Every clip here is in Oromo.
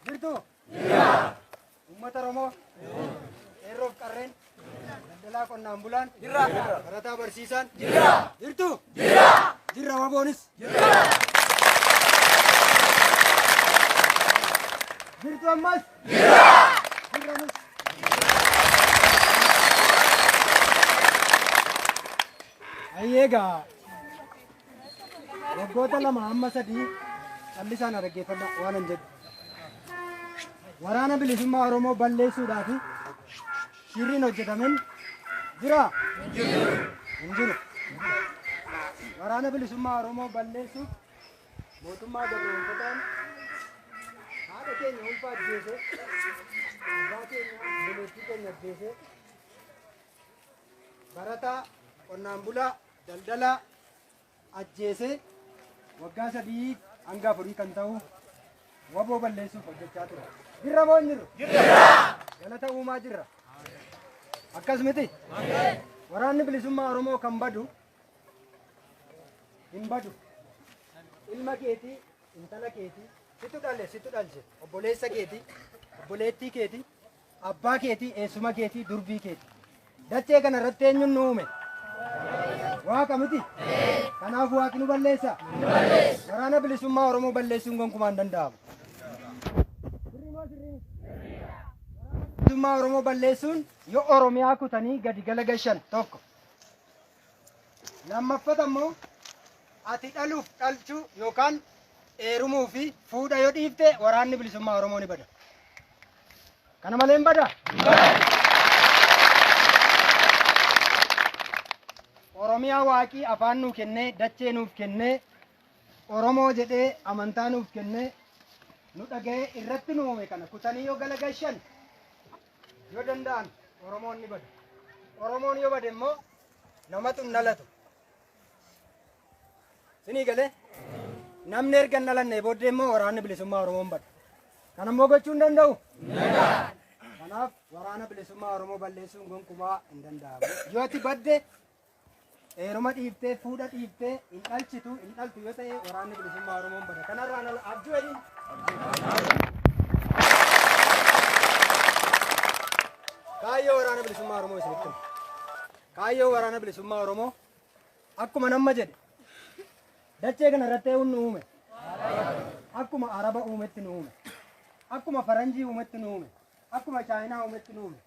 Jirtuu? Jira. Uummata Oromoo? Qeerroof qarreen? Daldalaa qonnaan bulaan? Jira. Barataa barsiisaan? Jira. Jirtuu? Jira. Jirra waboonis? Jira. Jirtu ammas? Jira. Jirra nus? Ayyeegaa. Waggoota lama amma sadii callisaan na dhaggeeffadha waanan jedhu. Waraana bilisummaa Oromoo balleessuudhaa fi shirriin hojjetamin jira? Hin jiru. Waraana bilisummaa Oromoo balleessuuf mootummaa gabroonfataan haadha keenya ulfaa ajjeese, abbaa keenya obboleettii keenya ajjeese, barataa, qonnaan bulaa, Daldalaa ajjeesee waggaa sadii hanga afurii kan ta'u waboo balleessuuf hojjechaa ture. Jirra moo hin jirru? Galata uumaa jirra. Akkas miti? Waraanni bilisummaa Oromoo kan badu hin badu. Ilma keetii, intala keetii, situ dhale, situ dhalche, obboleessa keetii, obboleettii keetii, Abbaa keetii, eessuma keetii, durbii keetii. Dachee kana irratti eenyuun nu uume? Waaqa miti? Kanaaf waaqni nu balleessa? Waraana bilisummaa Oromoo balleessuun gonkumaa hin danda'amu. Bilisummaa Oromoo balleessuun yoo Oromiyaa kutanii gadi gala gashan tokko. Lammaffata immoo ati dhaluuf dhalchuu yookaan eerumuu fi fuudha yoo dhiifte waraanni bilisummaa Oromoo ni bada. Kana malee hin bada. Oromiyaa waaqii afaan nuu kennee dachee nuuf kennee Oromoo jedhee amantaa nuuf kennee nu dhaga'ee irratti nu uume kana kutanii yoo galagashan Yoo danda'an Oromoon ni bada. Oromoon yoo bade immoo namatu hin dhalatu. Sinii galee namni erga hin dhalannee booddee immoo waraanni bilisummaa Oromoon bada. Kana immoo gochuu hin danda'u. Kanaaf waraana bilisummaa Oromoo balleessuun gonkumaa hin danda'amu. Yoo ati badde Heeruma dhiiftee, fuudha dhiiftee, hin dhalchitu, hin dhaltu yoo ta'e waraanni bilisummaa Oromoon bada. Kanarraan ala abjuu jedhin. Kaayyoo waraana bilisummaa Oromoo isinitti hima. Kaayyoo waraana bilisummaa Oromoo akkuma namma jedhe dachee kana irratti eewuun nu uume. Akkuma Araba uumetti nu uume. Akkuma Faranjii uumetti nu uume. akkuma Chaayinaa uumetti nu uume.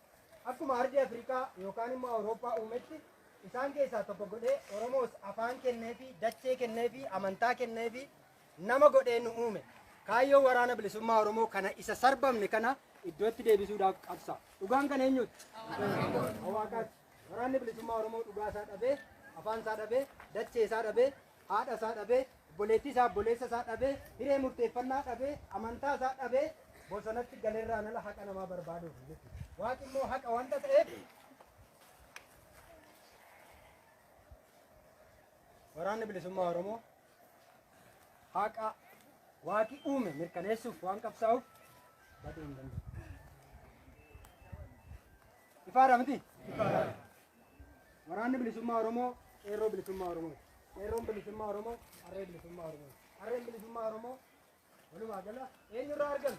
Akkuma ardii Afrikaa yookaan immoo Awurooppaa uumetti isaan keessaa tokko godhee Oromoos afaan kenneefi dachee kenneefi amantaa kenneefi nama godhee nu uume. Kaayyoo waraana bilisummaa Oromoo kana isa sarbamne kana iddootti deebisuudhaaf qabsa. Dhugaan kan eenyuuti? Hawaaqaati. Waraanni bilisummaa Oromoo dhugaa isaa dhabee, afaan isaa dhabee, dachee isaa dhabee, haadha isaa dhabee, obboleettii isaa, obboleessa isaa dhabee, hiree murteeffannaa dhabee, amantaa isaa dhabee bosonatti galerraan ala haqa namaa barbaaduuf jechuudha. Waaqi immoo haqa wanta ta'eef waraanni bilisummaa Oromoo haqa waaqi uume mirkaneessuuf waan qabsaa'uuf baduu hin danda'u. Ifaadha miti? Waraanni Bilisummaa Oromoo Qeerroo Bilisummaa Oromooti. Qeerroon Bilisummaa Oromoo Qarree Bilisummaa Oromooti. Qarreen Bilisummaa Oromoo walumaa gala eenyurraa argame?